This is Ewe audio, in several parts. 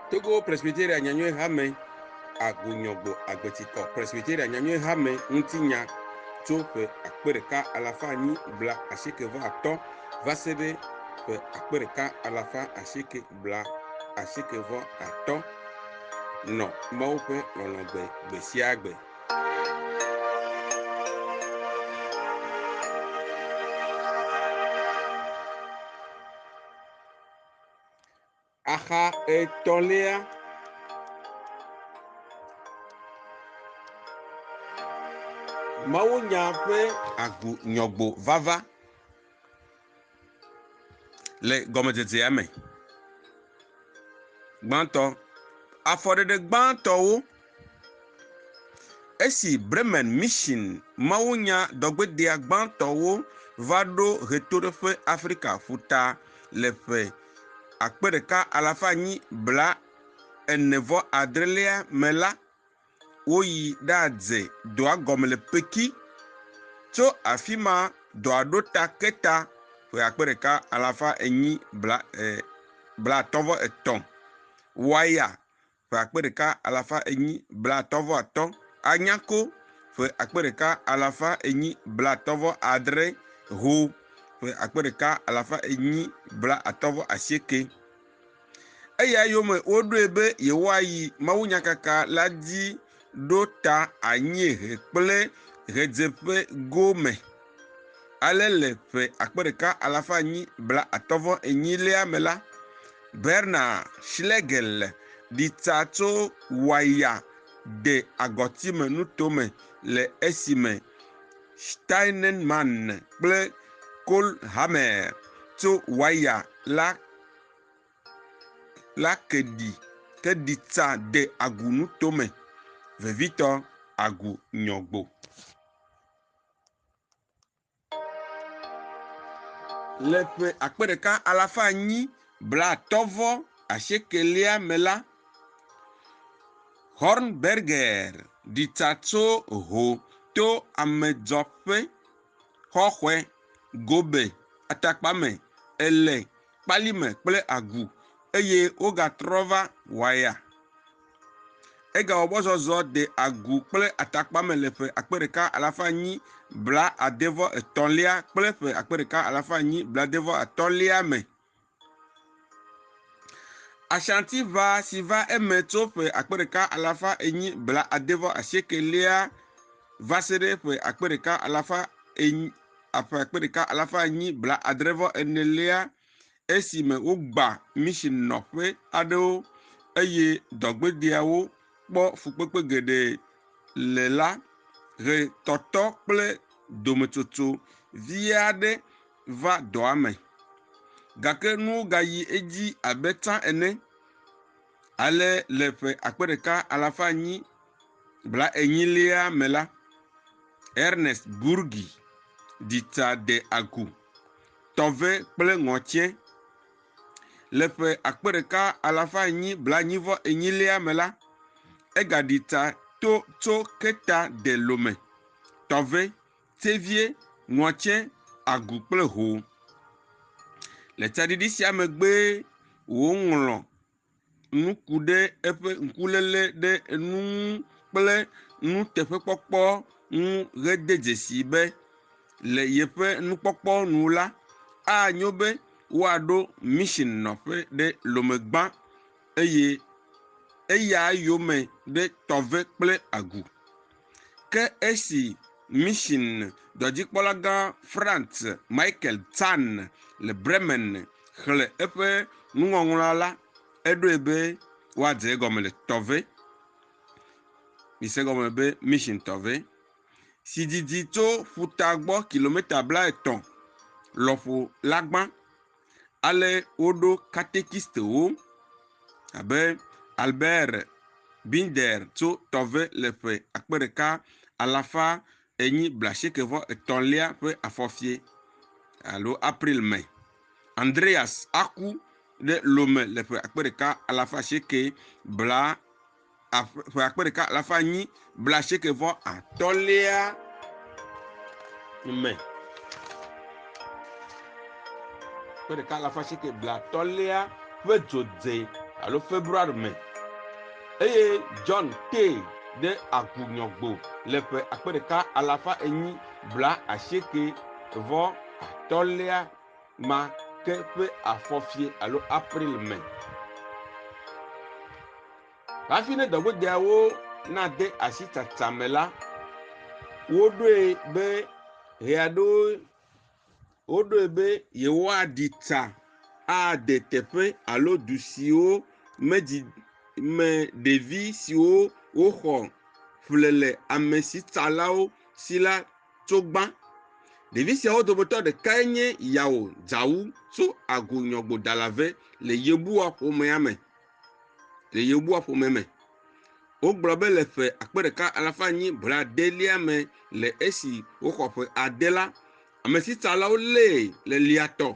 Togo Presbyteria Nyanyuie Hame Agonyɔgbo Agbetikɔ Presbyteria Nyanyuie Hame Ŋutinya tso ƒe akpe ɖeka alafa anyi bla asieke vɔ atɔ̃ va se ɖe ƒe akpe ɖeka alafa asieke bla asieke vɔ atɔ nɔ Mawu ƒe lɔlɔ̃ gbe gbe sia gbe. Axa etɔ̃lia. Mawunya ƒe agbo nyɔgbo vava le gɔmedzedzea me. Gbãtɔ, afɔɖeɖe gbãtɔwo, esi Bremen Mission mawunya dɔgbedea gbãtɔwo va ɖo ʋetoɖoƒe Afrika ƒuta le ƒe. akpe ɖeka alafa enyi blaene-vɔ-adrelia me la, woyi ɖadze dɔa gɔme le Peki. Tso afi ma dɔa ɖo ta Keta ƒe akpe ɖeka alafa enyi blaatɔ̃-vɔ-etɔ̃, Waya ƒe akpe ɖeka alafa enyi blaatɔ̃ vɔ atɔ̃, Anyako ƒe akpe ɖeka alafa enyi blaatɔ̃ vɔ adre, Ho ƒe akpe ɖeka alafa enyi blaatɔ̃ vɔ asieke. Eya yome woɖoe be yewoayi mawunyakaka la dzi ɖo ta anyiehe kple ɣedzeƒe gome, ale le ƒe akpe ɖeka alafa enyi blaatɔ̃ vɔ enyi lea me la, Bernard Schlegel ɖi tsa tso waya de agɔtime nuto me le esime Steinmann kple Kohlhammer tso waya la la ke ɖi ke ɖi tsa de agu nutome vevitɔ agu nyɔgbo. Le ƒe akpe ɖeka alafa anyi blaatɔ̃ vɔ asiekɛlia me la, Hornberger ɖi tsa tso ho to amedzɔƒe xɔxɔe gobe atakpame ele kpali me kple agu, eye wogatrɔ va Waya. Egawɔ mɔzɔzɔ de agu kple atakpa me le ƒe akpe ɖeka alafa enyi blaade vɔ etɔ̃lia kple ƒe akpe ɖeka alafa enyi blaade vɔ atɔ̃lia me. Ashantiʋa si va eme tso ƒe akpe ɖeka alafa enyi blaade vɔ asieke lia va se ɖe ƒe akpe ɖeka alafa enyi a ƒe akpe ɖeka alafa enyi blaadre vɔ enelia esime wogbã mission nɔƒe aɖewo eye dɔgbedɛawo kpɔ fukpekpe geɖe le la, ʋetɔtɔ kple dometsotso vi aɖe va dɔa me. Gake nuwo gayi edzi abe tsã ene. Ale le ƒe akpe ɖeka alafa enyi bla enyilia me la, Ernest Burgi ɖi ta de agu, tɔve kple ŋɔtiɛ. Le ƒe akpe ɖeka alafa enyi bla enyi vɔ enyilia me la, egaɖi ta to tso Keta de Lome, tɔve, tevie, ŋɔtiɛ, agu kple ho. Le tsaɖiɖi sia megbee woŋlɔ nu ku ɖe eƒe ŋkuléle ɖe enu ŋu kple nuteƒekpɔkpɔ ŋu hede dzesi be le yeƒe nukpɔkpɔ nu la, anyo be woaɖo mission nɔƒe ɖe Lomegba eye eya yome ɖe Tɔve kple Agu. Ke esi Mission dɔdzikpɔlagã Franz Michael Zahn le Bremen xlẽ eƒe nuŋɔŋlɔa la, eɖoe be woadze egɔme le Tove, mise gɔme be Mission Tove, si didi tso ƒuta gbɔ kilomita blaetɔ̃ lɔƒo la gbã. Ale woɖo katekistewo abe Albert Binder tso Tɔve le ƒe akpe ɖeka alafa enyi blaasieke vɔ etɔ̃lia ƒe afɔfie alo April me. Andreas aku ɖe Lome le ƒe akpe ɖeka alafa asieke bla ƒe akpe ɖeka alafa enyi blaasieke vɔ atɔ̃lia me. Ƒe ɖeka alafa asieke blaatɔ̃lia ƒe dzodze alo February me eye John tee ɖe agunyɔgbo le ƒe akpe ɖeka alafa enyi blaasieke vɔ atɔ̃lia ma ke ƒe afɔfie alo April me. Hafi ne dɔgbedeawo nade asi tsatsa me la, woɖoe be ʋea ɖo woɖoe be yewoaɖi tsa ade teƒe alo du siwo medzi me ɖevi siwo woxɔ ƒle le amesitsalawo si la tso gbã. Ɖevi siawo dometɔ ɖekae nye Yao Zhao tso Agu Nyɔgbodalave le Yebua ƒomea me. Le Yebua ƒomea me. Wogblɔ be le ƒe akpe ɖeka alafa enyi bladelia me le esi woxɔ ƒe ade la, amesitsalawo lée le liatɔ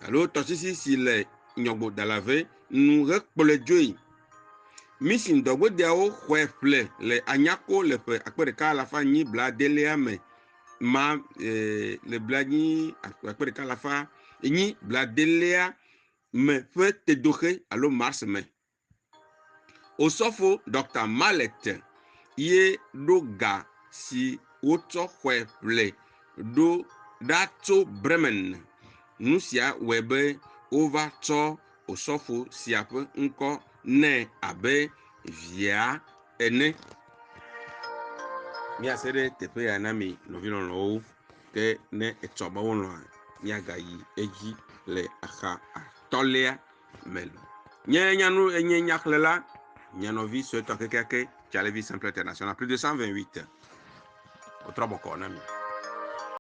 alo tɔsisi si le Nyɔgbodalave nu hekplɔe dzoe. Mission dɔgodeawo xɔe ƒle le Anyako le ƒe akpe ɖeka alafa enyi blaadẽlia me ma eh, le blaadĩ akpe ɖeka alafa enyi blaadẽlia me ƒe tedoxe alo mars me. Osɔfo Dr. Mallet ye ɖo ga si wotsɔ xɔe ƒle ɖo ɖa tso Bremen. Nu sia wɔe be wova tsɔ Osɔfo sia ƒe ŋkɔ nɛ abe via ene. Míase ɖe teƒe ya na mi nɔvi lɔlɔ̃wo, ke ne etsɔ be wolɔ̃a, míagayi edzi le axa atɔ̃lia me lɔ. Nye nyanu, nye nyaxlẽla, nye nɔvi suetɔ kekeake, Charlevy Simple International, plus de 128. Wotrɔ bɔkɔɔ na mi.